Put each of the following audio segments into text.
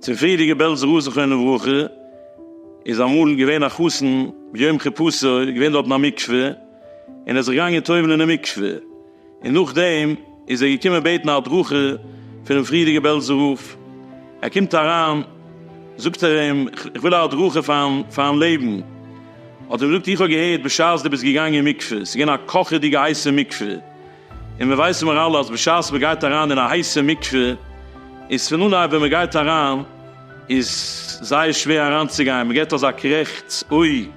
צום פריערדיגע בעלזע רב זכרונו לברכה איז אמאל געווען א חתן ביום כיפוסו איז געווען דארטן א מקווה און ער איז זיך געגאנגען טובל'ן אינעם מקווה און נאכדעם איז ער געקומען בעטן א הדרכה פונעם פריערדיגע בעלזע רב ער קומט אריין זאגט ער אים איך וויל א הדרכה פארן לעבן. האט ער געזאגט איך האב געהערט בשעת דו ביסט געגאנגען אין מקווה ס'איז געווען א קאכעדיגע הייסע מקווה, און מיר ווייסן מיר אלע אז בשעת מ'גייט אריין אין א הייסע מקווה איז פון אנהייב ווען מ'גייט אריין איז זייער שווער אריינצוגיין, מ'געט אזא קרעכטץ אוי,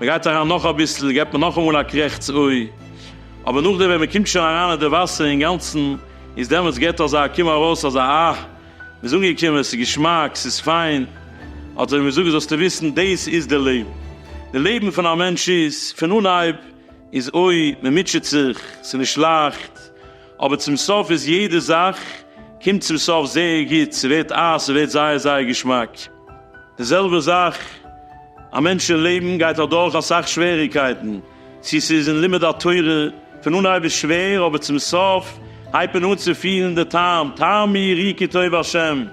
מ'גייט אריין נאך אביסל געט מען נאכאמאל א קרעכטץ אוי, אבער נאכדעם ווען מ'קומט שוין אריין אין די וואסער אינגאנצן איז דעמאלטס געט אזא קום ארויס אזא אה. מ'איז אנגעקומען, ס'איז געשמאק, ס'איז פיין, האט ער אים געזאגט, זאלסטו וויסן, דאס איז די לעבן. די לעבן פון א מענטש איז, פון אנהייב איז אוי, מ'מוטשעט זיך, ס'איז נישט לייכט, אבער צום סוף איז יעדע זאך קומט צום סוף זייער גוט, ס'ווערט אייז, ס'ווערט זייער זייער געשמאק. די זעלבע זאך, א מענטש אין לעבן גייט אדורך אסאך שוועריגקייטן, צי ס'איז אין לימוד התורה, פון אנהייב איז שווער אבער צום סוף הייבט מען אן צו פילן די טעם, טעמי רי כי טוב השם,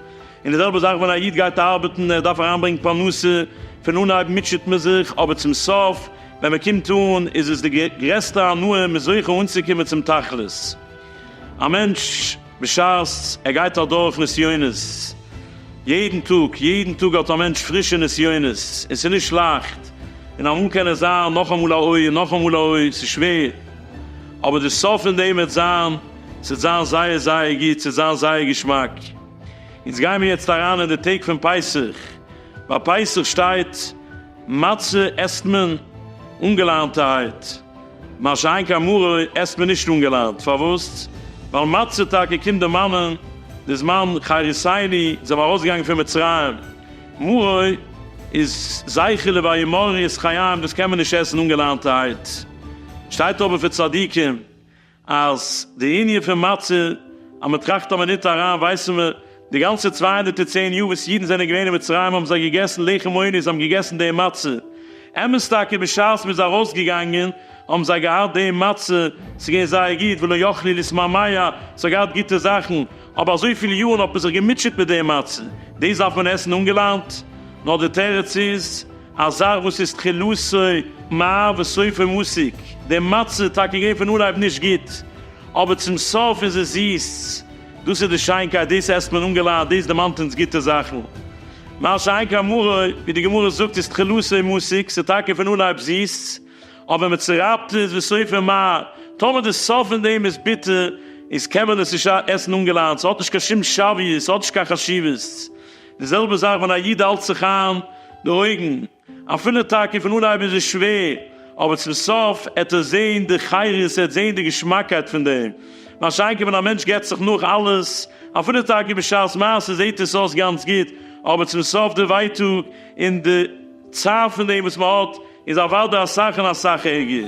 און די זעלבע זאך ווען א איד גייט ארבעטן, ער דארף אריינברענגן פרנסה, פון אנהייב מוטשעט מען זיך אבער צום סוף ווען מען קומט אן איז עס די גרעסטע הנאה, מען איז זוכה אנצוקומען צום תכלית. א מענטש. בשעת ער גייט אדורך נסיונות, יעדן טאג, יעדן טאג האט א מענטש פרישע נסיונות, און ס'איז נישט לייכט, און אמאל קען עס זיין נאכאמאל א אוי און נאכאמאל א אוי, ס'איז שווער, אבער די סוף פון דעם וועט זיין, ס'וועט זיין זייער זייער גוט, ס'וועט זיין זייער געשמאק. אונז גיימיר יעצט אריין אין די טעג פון פסח, ביי פסח שטייט מצה עסט מען אנגעלארענטערהייט, מה שאין כן מרור עסט מען נישט אנגעלאנט, פארוואס? ווייל מצה טאקע קומט דערמאנען די זמן חריסיני, זיי זענען ארויסגעגאנגען פון מצרים, מרור איז זכר לוויה מרור איז חיים, דאס קען מען נישט עסן אנגעלאנטערהייט, שטייט אבער פון צדיקים אז די ענין פון מצה אז מען טראכט אז מען ניט אריין ווייסן מיר די גאנצע צוויי הונדערט און צען יאר וואס אידן זענען געווען אין מצרים האבן זיי געגעסן לחם עוני, זיי האבן געגעסן די מצה. אמת טאקע בשעת מ'איז ארויסגעגאנגען האבן זיי געהאט די מצה, ס'איז געווען זייער גוט, ולא יכלי לשמא מיה, ס'האט געהאט גוטע זאכן, אבער אזויפיל יארן האט מען זיך געמוטשעט מיט די מצה, דאס דארף מען עסן אנגעלאנט? נאר די תירוץ איז, א זאך וואס איז תחילתו מר וסופו מסיק, די מצה איז טאקע געווען פון אנהייב נישט גוט, אבער צום סוף איז עס זיס. דאס איז די שיינקייט, דאס עסט מען אנגעלייט, דאס דערמאנט אונז גוטע זאכן. מה שאין כן מרה, ווי די גמרא זאגט, איז תחילתו מסיק, ס'איז טאקע פון אנהייב זיס, אבער מיט ס'רייפט איז ווי סופר מר. טאמער די סוף פון דעם איז ביטער, איז קען מען עס נישט עסן אנגעלייט, ס'האט נישט קיין שום שוויות, ס'האט נישט קיין חשיבות. די זעלבע זאך ווען א איד האלט זיך איין די אויגן. אפילו טאקע פון אנהייב איז עס שווער, אבער צום סוף עט ער זעהן די חירות, ער עט זעהן די געשמאקייט פון דעם. מה שאין כן ווען א מענטש געט זיך נאך אלעס, אפילו טאקע בשעת מעשה זעהט עס אויס גאנץ גוט, אבער צום סוף די ווייטאג און די צער פון דעם וואס מען האט איז אוודאי אסאך און אסאך ערגער.